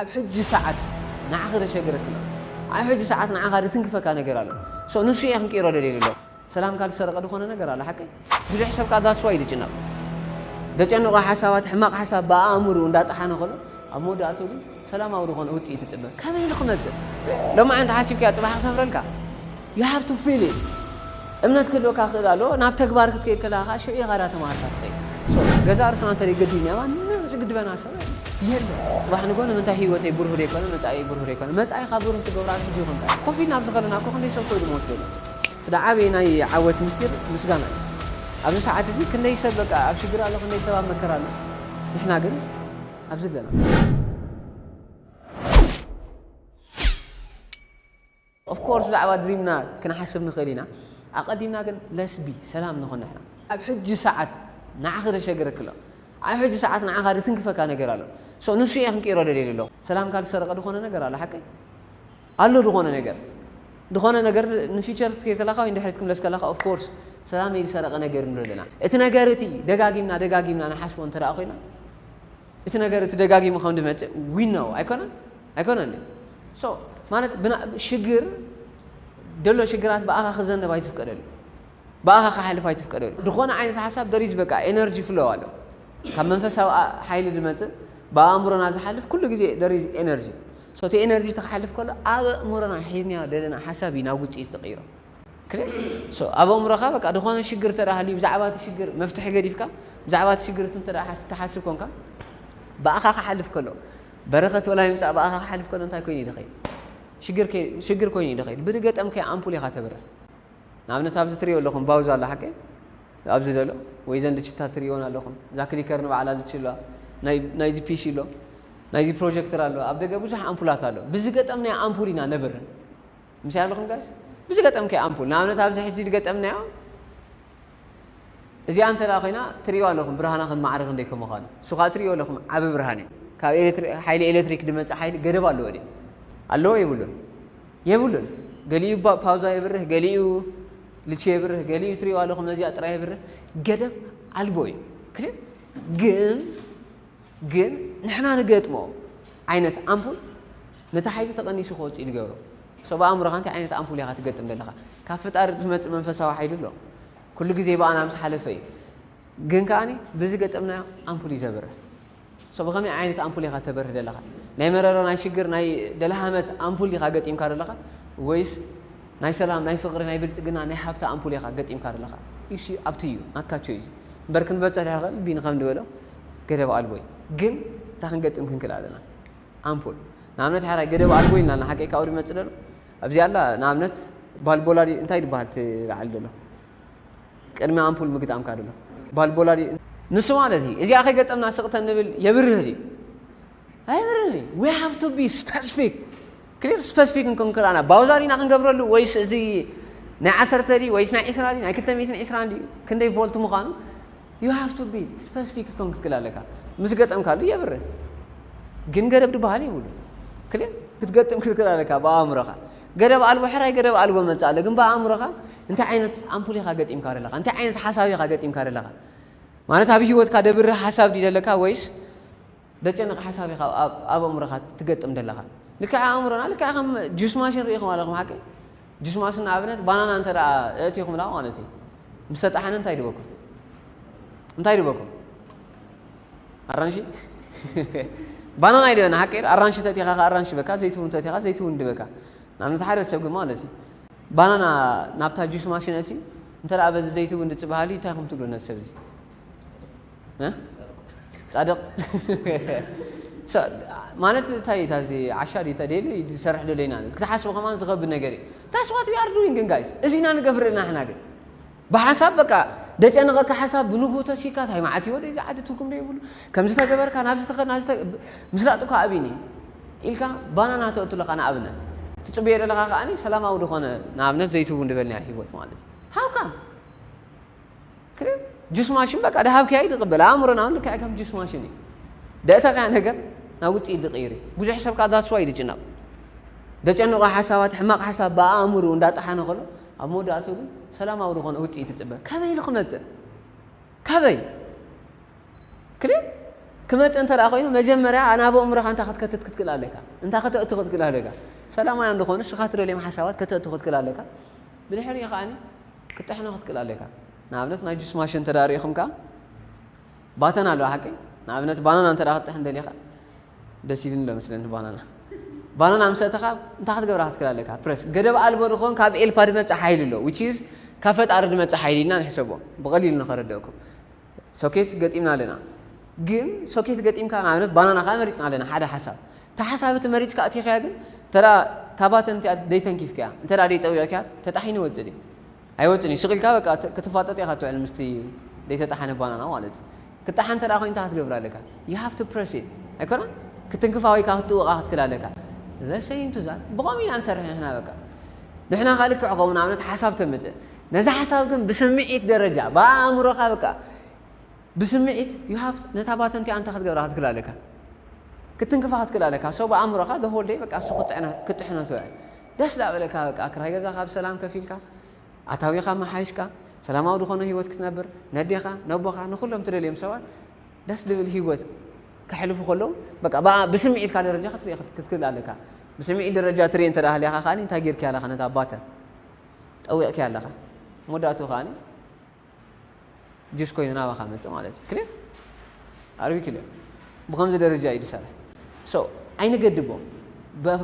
ኣብ ሕጂ ሰዓት ንዓኺ ዘሸግረክና ኣብ ሕጂ ሰዓት ንዓኻ ድትንክፈካ ነገር ኣሎ so ንሱ እየ ክንቅይሮ ደልየ ዘለኹ ሰላምካ ዝሰረቀ ድኾነ ነገር ኣሎ ሓቀይ ብዙሕ ሰብ ከኣ that's why ድጭነቅ ደጨንቆ ሓሳባት ሕማቅ ሓሳብ ብኣእምሩ እንዳጠሓነ ከሎ ኣብ መወዳእቱ ግን ሰላማዊ ድኾነ ውጽኢት ትጽበ ከመይ ንክመጽእ ሎማዓንቲ ሓሲብካዮ ጽባሕ ክሰፍረልካ You have to feel it እምነት ክህልወካ ክኽእል ኣለዎ ናብ ተግባር ክትከይድ ከለኻ ከኣ ሽዑ ኢኻ እታ ተማሂርካ ትኸይድ so ገዛእ ርእስና እንተ ገዲፍናዮ ማንም ዝግድበና ሰብ የለን ጽባሕ ንግሆ ንምንታይ ህይወተይ ብሩህ ዘይኮነ መጻኢይ ብሩህ ዘይኮነ መጻኢኻ ብሩህ ትገብራ ሕጂ ይኹን እንታይ ኮፍ ኢልና ኣብዚ ከለና እኮ ክንደይ ሰብ ኮይኑ ሞት ዘሎ እቲ ዓብዪ ናይ ዓወት ምስጢር ምስጋና እዩ ኣብዚ ሰዓት እዚ ክንደይ ሰብ በቃ ኣብ ሽግር ኣሎ ክንደይ ሰብ ኣብ መከራ ኣሎ ንሕና ግን ኣብዚ ኣለና Of course ብዛዕባ ድሪምና ክንሓስብ ንኽእል ኢና ኣቀዲምና ግን let's be ሰላም ንኹን ንሕና። ኣብ ሕጂ ሰዓት ንዓኺ ዘሸግረኪ ኣሎ ኣብ ሕጂ ሰዓት ንዓኻ ዝትንክፈካ ነገር ኣሎ so ንሱ እየ ክንቅይሮ ደልየ ዘለኹ ሰላምካ ዝሰረቀ ዝኾነ ነገር ኣሎ ሓቀይ ኣሎ ዝኾነ ነገር ዝኾነ ነገር ን future ክትከይድ ከላኻ ወይ ንድሕሪት ክምለስ ከላኻ of course ሰላመይ ዝሰረቀ ነገር ንብሎ ኣለና እቲ ነገር እቲ ደጋጊምና ደጋጊምና ንሓስቦ እንተ ኮይና እቲ ነገር እቲ ደጋጊሙ ከም ድመጽእ we know ኣይኮነን ኣይኮነን ድዩ so ማለት ብና ሽግር ደሎ ሽግራት ብኣኻ ክዘነብ ኣይትፍቀደሉ ብኣኻ ክሓልፍ ኣይትፍቀደሉ ድኾነ ዓይነት ሓሳብ there is በቃ ኤነርጂ ፍሎ ኣሎ ካብ መንፈሳዊ ኣ- ሓይሊ ድመጽእ ብኣእምሮና ዝሓልፍ ኩሉ ግዜ there is ኤነርጂ so እቲ ኤነርጂ እቲ ክሓልፍ ከሎ ኣብ ኣእምሮና ሒዝናዮ ደለና ሓሳብ እዩ ናብ ውጽኢት ድቕይሮ ክልል so ኣብ ኣእምሮኻ በቃ ዝኾነ ሽግር እንተ ሃልዩ ብዛዕባ እቲ ሽግር መፍትሒ ገዲፍካ ብዛዕባ እቲ ሽግር እቲ እንተ ሓስ ትሓስብ ኮንካ ብኣኻ ክሓልፍ ከሎ በረኸት ወላ ይምጻእ ብኣኻ ክሓልፍ ከሎ እንታይ ኮይኑ ይደኸይ ሽግር ከይ ሽግር ኮይኑ ይደኸይ ብድገጠም ከይ ኣምፑል ኢኻ ተብርህ ንኣብነት ኣብዚ ትሪኦ ኣለኹም ባውዛ ኣላ ሓቂ ኣብዚ ደሎ ወይ ዘን ልችታት ትሪኦን ኣለኹም እዛ ክሊከር ንባዕላ ልች ኣለዋ ናይዚ ፒሲ ኣሎ ናይዚ ፕሮጀክተር ኣሎ ኣብ ደገ ብዙሕ ኣምፑላት ኣሎ ብዝገጠም ናይ ኣምፑል ኢና ነብር ምስይ ኣለኹም ጋይስ ብዝገጠምክያ ኣምፑል ንኣብነት ኣብዚ ሕጂ ዝገጠምናዮ እዚኣ እንተ ኮይና ትሪእዋ ኣለኹም ብርሃና ከም ማዕረ ክንደይ ከም ምዃኑ እሱ ከዓ ትሪእዎ ኣለኹም ዓብ ብርሃን እዩ ካብ ሓይሊ ኤሌክትሪክ ድመፀ ሓይሊ ገደብ ኣለዎ ድ ኣለዎ የብሉን የብሉን ገሊኡ ፓውዛ የብርህ ገሊኡ ልቺ የብርህ ገሊኡ ትሪእዎ ኣለኹም ነዚኣ ጥራይ የብርህ ገደብ ኣልቦ እዩ ግን ግን ንሕና ንገጥሞ ዓይነት ኣምፑል ነቲ ሓይሊ ተቐኒሱ ክወጽእ እዩ ዝገብሮ። ሰብ ኣእምሮኻ እንታይ ዓይነት ኣምፑል ኢኻ ትገጥም ዘለኻ? ካብ ፈጣሪ ዝመጽእ መንፈሳዊ ሓይሊ ኣሎ። ኩሉ ግዜ ብኣና ምስ ሓለፈ እዩ። ግን ከኣ ብዝገጠምናዮ ኣምፑል እዩ ዘብርህ። ሶ ብኸመይ ዓይነት ኣምፑል ኢኻ ተበርህ ዘለኻ? ናይ መረሮ፣ ናይ ሽግር፣ ናይ ደልሃመት ኣምፑል ዲኻ ገጢምካ ዘለኻ ወይስ ናይ ሰላም፣ ናይ ፍቕሪ፣ ናይ ብልጽግና፣ ናይ ሃብቲ ኣምፑል ኢኻ ገጢምካ ዘለኻ? እሺ ኣብቲ እዩ ናትካ ቾይዝ። እምበር ክንበጽሕ ድሕሪ ክንብል ቢኒ ከም ዝበሎ ገደብ ኣልቦ እዩ ግን እንታይ ክንገጥም ክንክል ኣለና ኣምፑል ንኣብነት ሓራይ ገደብ ኣልቦ ኢልና ሓቀይ ካብኡ ድመጽእ ደሎ ኣብዚ ኣላ ንኣብነት ባልቦላ እንታይ ድበሃል እቲ ላዕሊ ደሎ ቅድሚ ኣምፑል ምግጣምካ ደሎ ባልቦላ ንሱ ማለት እዩ እዚኣ ከይገጠምና ስቕተን ንብል የብርህ ድዩ ኣይብርህን እዩ ዊ ሃቭ ቱ ቢ ስፐሲፊክ ክሊር ስፐሲፊክ እንኮን ክርኣና ባውዛር ኢና ክንገብረሉ ወይስ እዚ ናይ ዓሰርተ ድዩ ወይስ ናይ ዒስራ ድዩ ናይ ክልተ ሚእትን ዒስራን ድዩ ክንደይ ቮልት ምዃኑ You have to be specific ክትከውን ክትክእል ኣለካ ምስ ገጠምካሉ የብርህ ግን ገደብ ድበሃል ይብሉ ክልል ክትገጥም ክትክእል ኣለካ ብኣእምሮኻ ገደብ ኣልቦ ሕራይ ገደብ ኣልቦ መጽእ ኣሎ ግን ብኣእምሮኻ እንታይ ዓይነት ኣምፑል ኢኻ ገጢምካ ደለኻ እንታይ ዓይነት ሓሳብ ኢኻ ገጢምካ ደለኻ ማለት ኣብ ሂወትካ ደብርህ ሓሳብ ድዩ ደለካ ወይስ ደጨንቕ ሓሳብ ኢኻ ኣብ ኣብ ኣእምሮኻ ትገጥም ደለኻ። ልክዕ ኣእምሮና ልክዕ ከም ጁስ ማሽን ርኢኹም ኣለኹም ሓቀይ? ጁስ ማሽን ንኣብነት ባናና እንተ ደኣ ኣእቲኹምላ ማለት እዩ ምስ ተጣሓነ እንታይ ድበኩም? እንታይ ድበኩም? ኣራንሺ ባናና ይድበና ሓቀይ? ኣራንሺ ተእቲኻ ከኣ ኣራንሺ ይበካ፣ ዘይትውን ተእቲኻ ዘይትውን ይድበካ። ንኣብነት ሓደ ሰብ ግን ማለት እዩ ባናና ናብታ ጁስ ማሽን ኣእትዩ እንተ ደኣ በዚ ዘይትውን ድጽ በሃሊ እንታይ ኢኹም ትብሉ ነዚ ሰብ እዚ? ፃድቕ ማለት እንታይ እዩ ታዚ ዓሻ ድዩ ተደሊ ዝሰርሕ ደሎ ኢና ክትሓስቡ ከማን ዝኸብድ ነገር እዩ ታስ ዋት ዊ ኣር ዱዊንግ ግን ጋይስ እዚ ኢና ንገብር እና ሕና ግን ብሓሳብ በቃ ደጨነቐካ ሓሳብ ብንግኡ ተሲካ እንታይ መዓት ይወደ እዚ ዓዲ ትርጉም ዶ ይብሉ ከምዚ ተገበርካ ናብ ዝተኸድ ናብ ምስላጥ እኳ ኣብኒ ኢልካ ባናና ተእቱ ኣለካ ንኣብነት ትፅበዮ ዘለካ ከዓኒ ሰላማዊ ዝኾነ ንኣብነት ዘይትቡ ንበልኒያ ሂወት ማለት እዩ ሃውካም ጁስ ማሽን በቃ ድሃብክያ ይድቕበል ኣእምሮና እውን ልክዕ ከም ጁስ ማሽን እዩ ደእተኽያ ነገር ናብ ውፅኢት ድቕይር እዩ ብዙሕ ሰብ ከዓ ዳስዋ እዩ ድጭነቕ ደጨነቆ ሓሳባት ሕማቕ ሓሳብ ብኣእምሩ እንዳጠሓነ ከሎ ኣብ መወዳእቱ ግን ሰላማዊ ዝኾነ ውፅኢት ይፅበ ከበይ ኢሉ ክመፅእ ከበይ ክል ክመፅእ እንተ ኮይኑ መጀመርያ ናብ ኣእምሮኻ እንታይ ክትከትት ክትክእል ኣለካ እንታይ ከተእቱ ክትክእል ኣለካ ሰላማውያን ዝኾኑ ንስኻ ትደልዮም ሓሳባት ከተእቱ ክትክእል ኣለካ ብድሕሪኡ ከዓኒ ክትጥሕኖ ክትክእል ኣሎካ። ንኣብነት ናይ ጁስ ማሽን እንተ ርኢኹም ከኣ ባተን ኣለዋ ሓቀይ ንኣብነት ባናና እንተ ክትጥሕን ደሊኻ ደስ ኢሉኒ ኣሎ መስለኒ ባናና ባናና ምስ ኣእተኻ እንታይ ክትገብራ ክትክእል ኣለካ ፕረስ ገደብ ኣልቦ ንኾን ካብ ኤልፓ ድመጽእ ሓይሊ ኣሎ ዊች ካብ ፈጣሪ ድመጽእ ሓይሊ ኢልና ንሕሰቦ ብቐሊሉ ንኸረድአኩም ሶኬት ገጢምና ኣለና ግን ሶኬት ገጢምካ ንኣብነት ባናና ከኣ መሪጽና ኣለና ሓደ ሓሳብ እታ ሓሳብ እቲ መሪጽካ ኣእቲኻያ ግን እንተ እታ ባተን እቲኣ ዘይተንኪፍካያ እንተ ዘይጠዊቕካያ ተጣሒኑ ይወጽእ ድዩ ኣይወጽእን እዩ ስቕ ኢልካ በቃ ክትፋጠጥ ኢኻ ትውዕል ምስቲ ዘይተጣሓነ ባናና ማለት እዩ ክጣሓ እንተ ኮይኑ እንታይ ክትገብር ኣለካ ዩ ሃቭ ቱ ፕረስ ኢት ኣይኮነ ክትንክፋ ወይ ከዓ ክትጥውቓ ክትክል ኣለካ ዘሰይም ትዛት ብኸምኡ ኢና ንሰርሕ ንሕና በቃ ንሕና ከዓ ልክዕ ከምኡ ንኣብነት ሓሳብ ተምጽእ ነዚ ሓሳብ ግን ብስምዒት ደረጃ ብኣእምሮኻ በቃ ብስምዒት you have to ነታ ባተን እቲኣ እንታይ ክትገብራ ክትክእል ኣለካ ክትትንክፋ ክትክእል ኣለካ so ብኣእምሮኻ the whole day በቃ እሱ ክጥዕና ክጥሕነቶ እያ ደስ ዳበለካ በቃ ክራይ ገዛኻ ብሰላም ከፊልካ ኣታዊኻ መሓይሽካ ሰላማዊ ዝኾነ ህይወት ክትነብር ነዴኻ ነቦኻ ንኹሎም ትደልዮም ሰባት ደስ ዝብል ህይወት ከሕልፉ ከለዉ በቃ ብኣ- ብስምዒትካ ደረጃ ክትሪኦ ክት- ክትክእል ኣለካ ብስምዒት ደረጃ ትሪኦ እንተ ሃሊኻ ከኣ እንታይ ጌርክያ ኣለኻ ነታ ባተን ጠዊቕኪ ኣለኻ መወዳእትኡ ከኣ ጁስ ኮይኑ ናባኻ መጽእ ማለት እዩ ክሊር ኣር ዊ ክሊር ብከምዚ ደረጃ እዩ ዝሰርሕ ሶ ኣይንገድቦ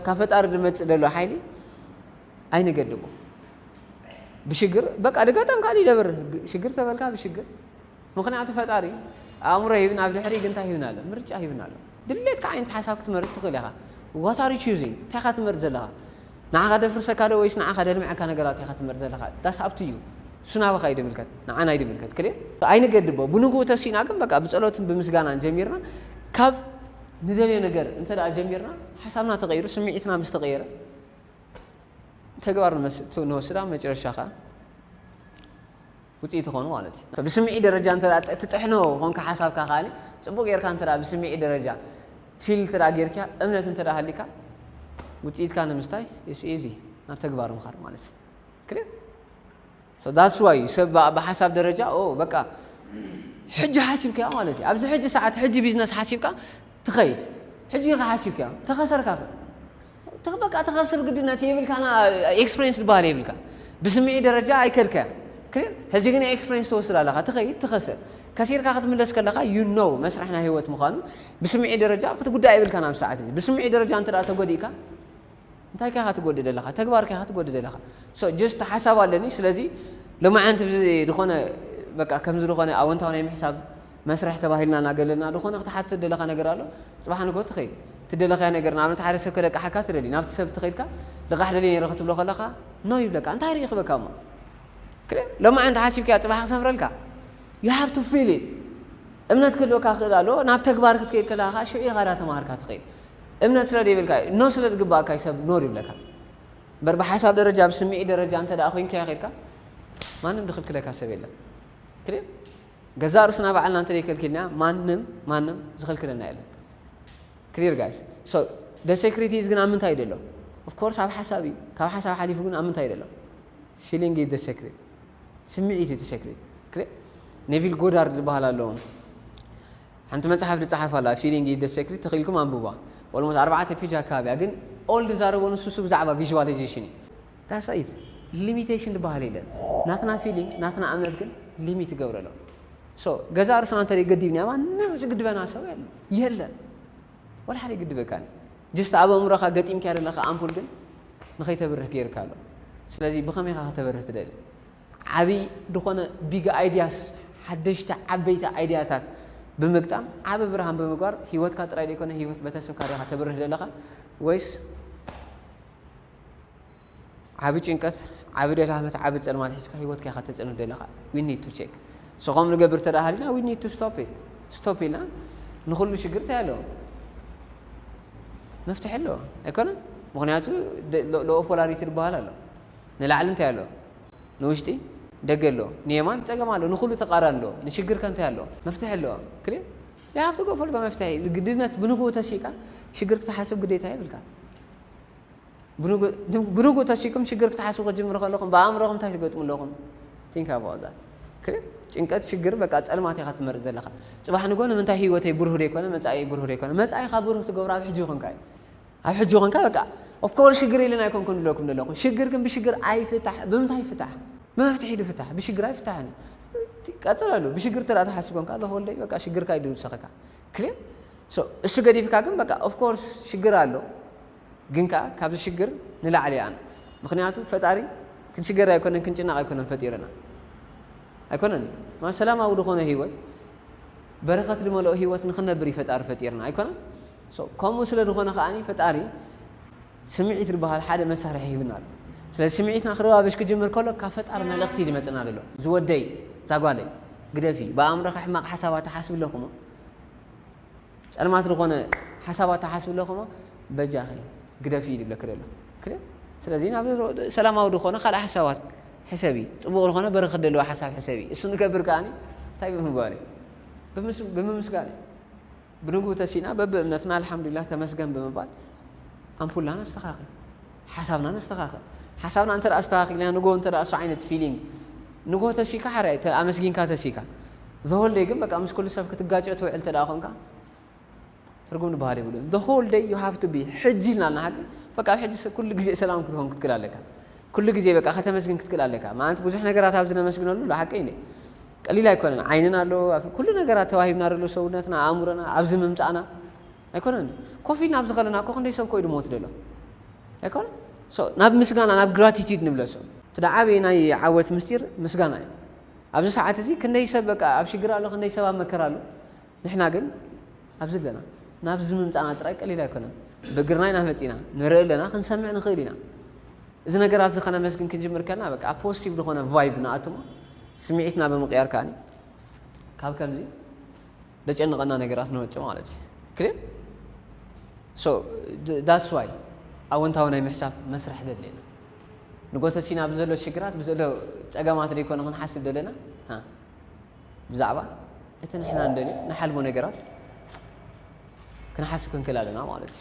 ካብ ፈጣሪ ዝመጽእ ዘሎ ሓይሊ ኣይንገድቦ ብሽግር በቃ ድጋጣም ካልእ ይደብር ሽግር ተበልካ ብሽግር ምኽንያቱ ፈጣሪ ኣእምሮ ሂብና ኣብ ድሕሪ ግን ታይ ሂብና ኣሎ ምርጫ ሂብና ኣሎ ድሌትካ ዓይነት ሓሳብ ክትመርጽ ትኽእል ኢኻ what are you choosing እንታይ ኢኻ ትመርጽ ዘለኻ ንዓኻ ደፍርሰካ ዶ ወይስ ንዓኻ ደልምዐካ ነገራት ኢኻ ትመርጽ ዘለኻ that's up to you እሱ ናባኻ እዩ ድምልከት ንዓና እዩ ድምልከት ክሊር ኣይንገድቦ ብንግኡ ተሲእና ግን በቃ ብጸሎትን ብምስጋናን ጀሚርና ካብ ንደልዮ ነገር እንተ ደኣ ጀሚርና ሓሳብና ተቐይሩ ስምዒትና ምስ ተቐየረ ተግባር ንወስድ ኣብ መጨረሻ ከኣ ውጽኢት ይኾኑ ማለት እዩ። ብስምዒት ደረጃ እንተ ትጥሕኖ ኾንካ ሓሳብካ ከኣ ጽቡቕ ጌርካ እንተ ብስምዒት ደረጃ ፊል እንተ ጌርካ እምነት እንተ ሃልዩካ ውጽኢትካ ንምስታይ ኢስ ኢዚ ናብ ተግባር ምኻድ ማለት እዩ። ክሊር ሶ ዳትስ ዋይ እዩ ሰብ ብሓሳብ ደረጃ ኦ በቃ ሕጂ ሓሲብካዮ ማለት እዩ። ኣብዚ ሕጂ ሰዓት ሕጂ ቢዝነስ ሓሲብካ ትኸይድ ሕጂ ኢኻ ሓሲብካዮ ተኸሰርካኸ እቲ በቃ ተኸስር ግድነት የብልካና ኤክስፕሬንስ ዝበሃል የብልካ ብስምዒ ደረጃ ኣይከድካ ክሊር ሕጂ ግን ኤክስፕሬንስ ትወስድ ኣለኻ ትኸይድ ትኸስር ከሲርካ ክትምለስ ከለኻ ዩ ኖ መስርሕ ናይ ህይወት ምዃኑ ብስምዒ ደረጃ ክትጉዳእ የብልካ ናብ ሰዓት እዚ ብስምዒ ደረጃ እንተ ተጎዲእካ እንታይ ከኻ ትጎዲ ዘለኻ ተግባር ከኻ ትጎዲ ዘለኻ ጀስት ሓሳብ ኣለኒ ስለዚ ሎማዓንቲ ዝኾነ በቃ ከምዚ ዝኾነ ኣወንታዊ ናይ ምሕሳብ መስርሕ ተባሂልና እናገለልና ድኾነ ክትሓትት ደለኻ ነገር ኣሎ ጽባሕ ንግሆ ትኸይድ ትደለኻዮ ነገር ንኣብነት ሓደ ሰብ ከለቅሓካ ትደሊ ናብቲ ሰብ ትኸድካ ልቓሕ ደልየ ነይረ ክትብሎ ከለኻ ኖ ይብለካ እንታይ ርኢኽበካ እሞ ክለ ሎማዕ እንተ ሓሲብካዮ ጽባሕ ክሰምረልካ you have to feel it እምነት ክህልወካ ክእል ኣሎ ናብ ተግባር ክትከይድ ከለካ ከዓ ሽዑ ኢኻ ዳ ተማሃርካ ትኸይድ እምነት ስለ ዘይብልካ ኖ ስለ ዝግባእካ ሰብ ኖር ይብለካ እምበር ብሓሳብ ደረጃ ብስምዒት ደረጃ እንተ ኮይንካዮ ከድካ ማንም ድክልክለካ ሰብ የለን ክልል ገዛእ ርእስና ባዕልና እንተደይ ከልኪልና ማንም ማንም ዝኽልክለና የለን ክሊር ጋይስ ሶ ደ ሴክሪቲ ኢዝ ግን ኣብ ምንታይ ደሎ ኦፍ ኮርስ ኣብ ሓሳብ እዩ ካብ ሓሳብ ሓሊፉ ግን ኣብ ምንታይ ደሎ ፊሊንግ ኢዝ ደ ሴክሪት ስምዒት እቲ ሴክሪት ክሊር ኔቪል ጎዳርድ ዝበሃል ኣለዎም ሓንቲ መጽሓፍ ዝጸሓፍ ኣላ ፊሊንግ ኢዝ ደ ሴክሪት ተኽኢልኩም ኣንብቧ ኦልሞስት ኣርባዕተ ፔጅ ኣካባቢያ ግን ኦል ዝዛረቦ ንሱ እሱ ብዛዕባ ቪዥዋላይዜሽን እዩ ዳስ ኢት ሊሚቴሽን ድባሃል የለን ናትና ፊሊንግ ናትና እምነት ግን ሊሚት ይገብረሎም ሶ ገዛእ ርእስና እንተ ገዲብና ማንም ዝግድበና ሰብ የለን የለን ወላ ሓደ ይግድበካን ጀስት ኣብ ኣእምሮኻ ገጢምካ ዘለኻ ኣምፑል ግን ንኸይተብርህ ገይርካ ኣሎ ስለዚ ብኸመይ ኻ ከተበርህ ትደሊ ዓብይ ዝኾነ ቢግ ኣይድያስ ሓደሽቲ ዓበይቲ ኣይድያታት ብምግጣም ዓብ ብርሃን ብምግባር ሂወትካ ጥራይ ዘይኮነ ሂወት ቤተሰብካ ዲኻ ተብርህ ዘለኻ ወይስ ዓቢ ጭንቀት ዓቢ ደላመት ዓቢ ጸልማት ሒዝካ ሂወትካ ኢኻ ተጸልም ዘለኻ ዊ ኒድ ቱ ቼክ ሶ ከምኡ ንገብር እንተ ሃሊና ዊ ኒድ ቱ ስቶፕ ኢት ስቶፕ ኢልና ንኹሉ ሽግር እንታይ ኣለዎ መፍትሒ ኣለዎ ኣይኮነን ምክንያቱ ሎኦ ፖላሪቲ ዝበሃል ኣሎ ንላዕሊ እንታይ ኣሎ ንውሽጢ ደገ ኣሎ ንየማን ፀገም ኣሎ ንኩሉ ተቃራኒ ኣሎ ንሽግር ከ እንታይ ኣሎ መፍትሒ ኣለዎ ክል ይሃፍቲ ጎፈልቶ መፍትሒ ግድነት ብንግኡ ተሲእካ ሽግር ክትሓስብ ግዴታ ይብልካ ብንጉእ ተሲእኩም ሽግር ክትሓስቡ ክትጅምሩ ከለኹም ብኣእምሮኹም እንታይ ትገጥሙ ኣለኹም? Think about that okay ጭንቀት ሽግር በቃ ጸልማት ኢኻ ትመርጽ ዘለኻ ጽባሕ ንግሆ ንምንታይ ህይወተይ ብሩህ ዘይኮነ መጻኢይ ብሩህ ዘይኮነ መጻኢኻ ብሩህ ትገብሮ ኣብ ሕጂ ኮንካ እዩ ኣብ ሕጂ ኮንካ በቃ ኦፍ ኮርስ ሽግር ኢለን ኣይኮንኩን ዝብለኩም ዘለኹ ሽግር ግን ብሽግር ኣይፍታሕ ብምንታይ ይፍታሕ ብመፍትሒ ዝፍታሕ ብሽግር ኣይፍታሕን እዩ ቀጽለሉ ብሽግር ተደኣ ትሓስብ ኮንካ ዘሆልደይ በቃ ሽግርካ እዩ ዝውሰኸካ ክሊር ሶ እሱ ገዲፍካ ግን በቃ ኦፍ ኮርስ ሽግር ኣሎ ግን ከኣ ካብዚ ሽግር ንላዕሊ ኣነ ምክንያቱ ፈጣሪ ክንሽገር ኣይኮነን ክንጭነቅ ኣይኮነን ፈጢርና ኣይኮነን ማ ሰላማዊ ድኾነ ሂወት በረከት ድመልኦ ሂወት ንክነብር እዩ ፈጣሪ ፈጢርና ኣይኮነን ሶ ከምኡ ስለ ድኾነ ከኣ ፈጣሪ ስምዒት ዝበሃል ሓደ መሳርሒ ሂቡና ኣሎ። ስለዚ ስምዒትና ክረባበሽ ክጅምር ከሎ ካብ ፈጣሪ መልእኽቲ እዩ ዝመጽእና ዘሎ። ዝወደይ፣ ዛጓለይ፣ ግደፊ፣ ብኣእምሮኺ ሕማቕ ሓሳባት ትሓስቢ ኣለኹሞ፣ ጸልማት ዝኾነ ሓሳባት ትሓስቢ ኣለኹሞ፣ በጃኺ ግደፊ እዩ ዝብለኪ ዘሎ። ክደ ስለዚ ናብ ሰላማዊ ዝኾነ ካልእ ሓሳባት ሕሰቢ፣ ጽቡቕ ዝኾነ በረኸት ዘለዎ ሓሳብ ሕሰቢ። እሱ ንገብር ከኣ እንታይ ብምግባር እዩ? ብምምስጋን እዩ። ብንግኡ ተሲእና በብእምነትና ኣልሓምዱሊላህ ተመስገን ብምባል ኣምፑልና ነስተኻኽል፣ ሓሳብና ነስተኻኽል። ሓሳብና እንተ ኣስተኻኺልና ንግሆ እንተ እሱ ዓይነት ፊሊንግ ንግሆ ተሲእካ ሓራይ ኣመስጊንካ ተሲእካ the whole day ግን በቃ ምስ ኩሉ ሰብ ክትጋጨ ትውዕል እንተ ኮንካ ትርጉም ዝበሃል የብሉን። the whole day you have to be ሕጂ ኢልና ኣለና ግን በቃ ኣብ ሕጂ ኩሉ ግዜ ሰላም ክትኮን ክትክእል ኣለካ። ኩሉ ግዜ በቃ ከተመስግን ክትክእል ኣለካ። ማለት ብዙሕ ነገራት ኣብዚ ነመስግነሉ ዶ ሓቀይ ቀሊል ኣይኮነን ዓይንና ኣሎ ኣፍ ኩሉ ነገራት ተዋሂብና ደሎ ሰውነትና ኣእምሮና ኣብዚ ምምጻእና ኣይኮነን ኮፍ ኢልና ኣብዚ ከለና እኮ ክንደይ ሰብ ኮዩ ድሞት ደሎ ኣይኮነን ናብ ምስጋና ናብ ግራቲቲድ ንብለሶ እቲ ደዓበየ ናይ ዓወት ምስጢር ምስጋና እዩ ኣብዚ ሰዓት እዚ ክንደይ ሰብ በቃ ኣብ ሽግር ኣሎ ክንደይ ሰብ ኣብ መከራ ኣሎ ንሕና ግን ኣብዚ ኣለና። ናብዚ ምምጻእና ጥራይ ቀሊል ኣይኮነን። ብእግርና ኢና መጺእና፣ ንርኢ ኣለና፣ ክንሰምዕ ንኽእል ኢና። እዚ ነገራትዚ ከነመስግን ክንጅምር ከለና በቃ ኣብ ፖዚቲቭ ዝኾነ ቫይብ ንኣቱ እሞ ስምዒትና ብምቕያር ከኣ ካብ ከምዚ ዘጨንቐና ነገራት ንወጽእ ማለት እዩ። ክሊር ሶ ዳትስ ዋይ ኣወንታዊ ናይ ምሕሳብ መስርሕ ዘድልየና ንጎተሲና ብዘሎ ሽግራት ብዘሎ ጸገማት ዘይኮነ ክንሓስብ ዘለና ብዛዕባ እቲ ንሕና ንደልዮ ንሓልሞ ነገራት ክንሓስብ ክንክእል ኣለና ማለት እዩ።